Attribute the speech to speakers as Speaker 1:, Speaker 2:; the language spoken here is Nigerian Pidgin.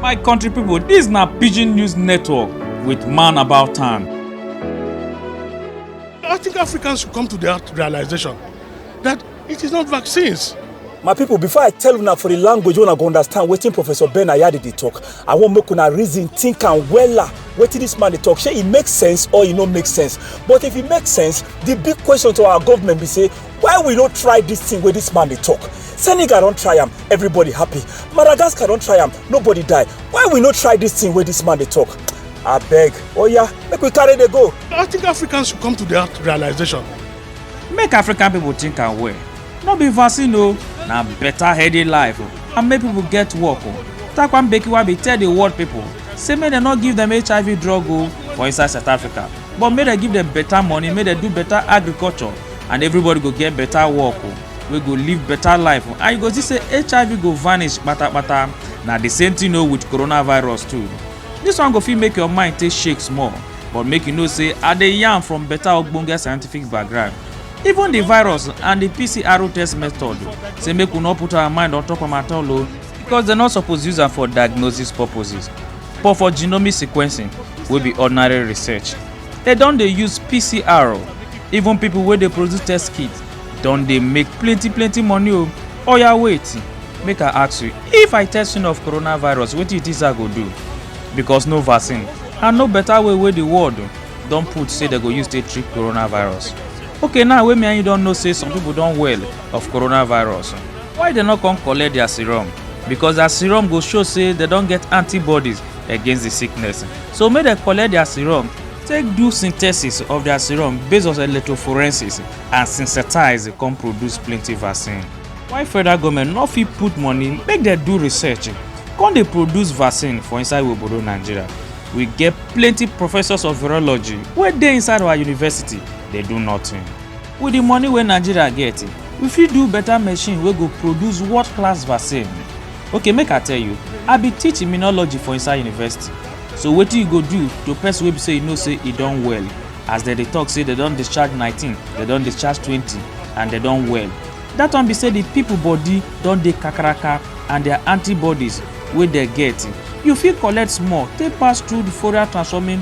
Speaker 1: My country people, this na Pidgin News Network with Man About Town. I think Africans should come to that realization that it is not vaccines. My people, before I tell una for the language una go understand wetin Professor Ben Ayade dey talk, I wan make una reason, think am wella wetin this man dey talk. Shey e make sense or e no make sense? But if e make sense, the big question to our government be say why we no try this thing where this man they talk senegal don't try him. everybody happy madagascar don't try him. nobody die why we no try this thing where this man they talk I beg. Oh yeah, make we carry the go i think africans should come to that realization make african people think and well no be vaccine o na better healthy life o and make people get work o takwan bekiwa be tell the world people say make dem no give them hiv drug o for inside south africa but make dem give dem better money make dem do better agriculture and everybody go get better work o oh, wey go live better life oh. and you go see say hiv go vanish patapata na the same thing o oh, with coronavirus too this one go fit make your mind take shake small but make you know say i dey yarn from better ogbonge scientific background even the virus and the pcr test method say make we no put our mind on top am at all o because dem no suppose use am for diagnosis purposes but for genomic sequencing wey be ordinary research dem don dey use pcr o even people wey dey produce test kit don dey make plenty plenty money o oya wait make i ask you if i test you of coronavirus wetin you think say i go do because no vaccine and no better way wey the world don put say dem go use take treat coronavirus okay now wey me and you don know say some people don well of coronavirus. Why dem no come collect their serum? Because their serum go show say dem don get antibodies against the sickness. So make dem collect their serum, take do synthesis of their serum based on electrophorensis and synthesize come produce plenty vaccine. Why federal government no fit put money make dem do research come dey produce vaccine for inside obodo Nigeria? We get plenty professors of virology wey dey inside our university dey do nothing. With the money wey Nigeria get, we fit do better machine wey go produce world class vaccine. Okay make I tell you, I be teach immunology for inside university. So wetin you go do to person wey be say you know say e don well? As dem dey talk say dem don discharge nineteen, dem don discharge twenty and dem don well. That one be say the people body don dey kakaraka and their antibodies wey dem get, you fit collect small take pass through the Fourier transforming